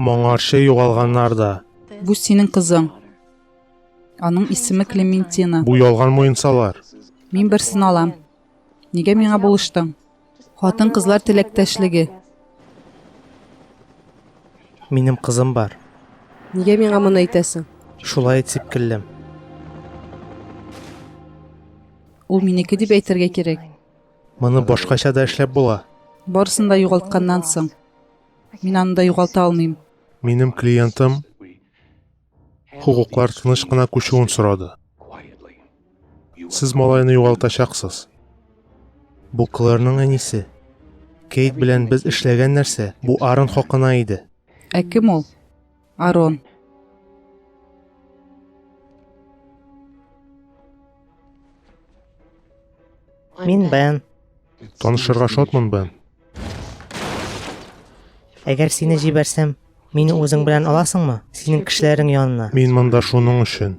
Моңарчы югалганнар да. Бу синең кызың. Аның исеме Клементина. Бу ялган муенсалар. Мин берсен алам. Нигә миңа булыштың? Хатын-кызлар теләктәшлеге. Минем кызым бар. Нигә миңа моны әйтәсең? Шулай итеп килдем. Ул минеке дип әйтергә кирәк. Моны башкача да эшләп була. Барысын да югалтканнан соң. Мин аны да югалта алмыйм. Минем клиентым хокуклар тыныч кына күчүен сорады. Сез малайны югалтачаксыз. Бу Клэрның әнисе. Кейт белән без эшләгән нәрсә, бу Арон хакына иде. Ә кем ул? Арон. Мин Бен. Танышырга шатмын, Бен. Әгәр сине җибәрсәм, мине үзең белән аласыңмы? Синең кешеләрең янына. Мин монда шуның өчен.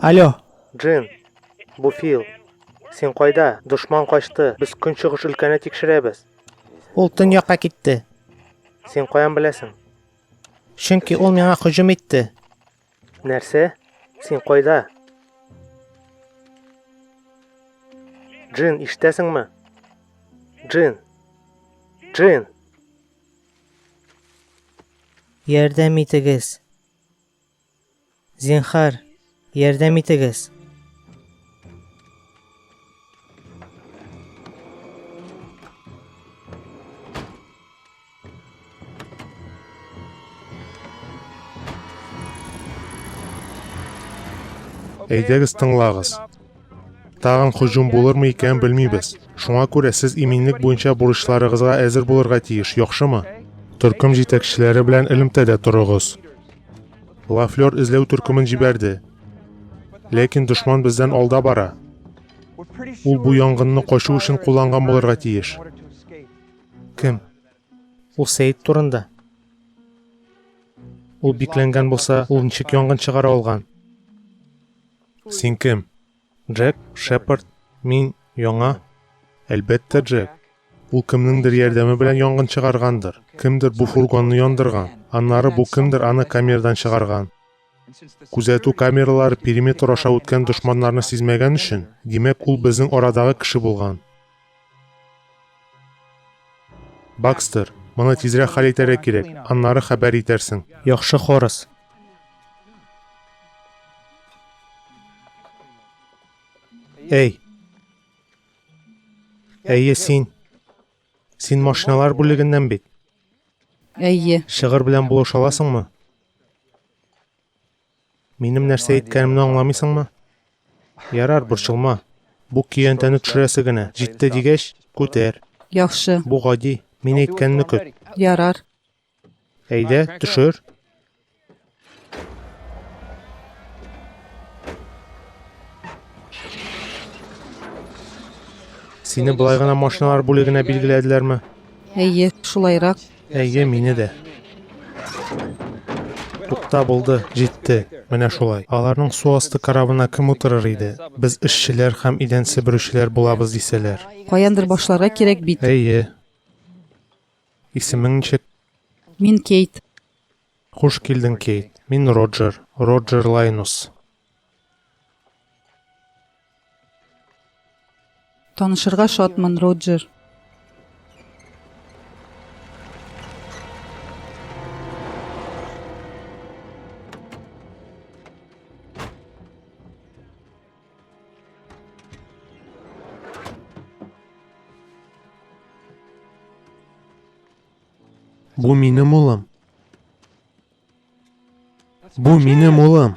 Алло. Джин, бу Фил. Син кайда? Дошман качты. Без көнчыгыш өлкәне тикшерәбез. Ул төньякка китте. Син каян беләсең? Чөнки ул миңа һөҗүм итте. Нәрсә? Син кайда? Джин, ишетәсеңме? Джин. Джин. Ярдәм итегез. Зинхар, ярдәм итегез. Әйдәгез тыңлагыз. Тагын һөҗүм булырмы икән белмибез. Шуңа күрә сез иминлек буенча бурычларыгызга әзер булырга тиеш, яхшымы? Төркем җитәкчеләре белән элемтәдә торыгыз. Лафлер эзләү төркемен җибәрде. Ләкин дошман бездән алда бара. Ул бу янгынны качу өчен кулланган булырга тиеш. Кем? Ул Сәйд турында. Ул бикләнгән булса, ул ничек янгын чыгара алган? Син кем? Джек, Шепард, мин яңа. Әлбәттә, Джек. Ул кемнеңдер ярдәме белән янгын чыгаргандыр. Кемдер бу фургонны яндырган. Аннары бу кемдер аны камердан чыгарган. Күзәтү камералары периметр аша үткән дошманнарны сизмәгән өчен, димәк, ул безнең арадагы кеше булган. Бакстер, моны тизрәк хәл итәргә кирәк, аннары хәбәр итәрсең. Яхшы Хорас. Әй. Әйе, син. Син машиналар бүлегеннән бит. Әйе. Шыгыр белән булыша аласыңмы? Минем нәрсә әйткәнемне аңламыйсыңмы? Ярар, борчылма. Бу көянтәне төшерәсе генә. Җитте дигәч, күтәр. Яхшы. Бу гади. Мин әйткәнне көт. Ярар. Әйдә, төшер. Сине былай гына машиналар бүлегенә билгеләделәрме? Әйе, шулайрак. Әйе, мине дә. Тукта булды, җитте. Менә шулай. Аларның су асты корабына кем утырыр иде? Без эшчеләр һәм идән себерүчеләр булабыз дисәләр. Каяндыр башларга кирәк бит. Әйе. Исемең ничек? Мин Кейт. Хуш килдең, Кейт. Мин Роджер. Роджер Лайнус. Танышырга шатмын, Роджер. Бу минем улым. Бу минем улым.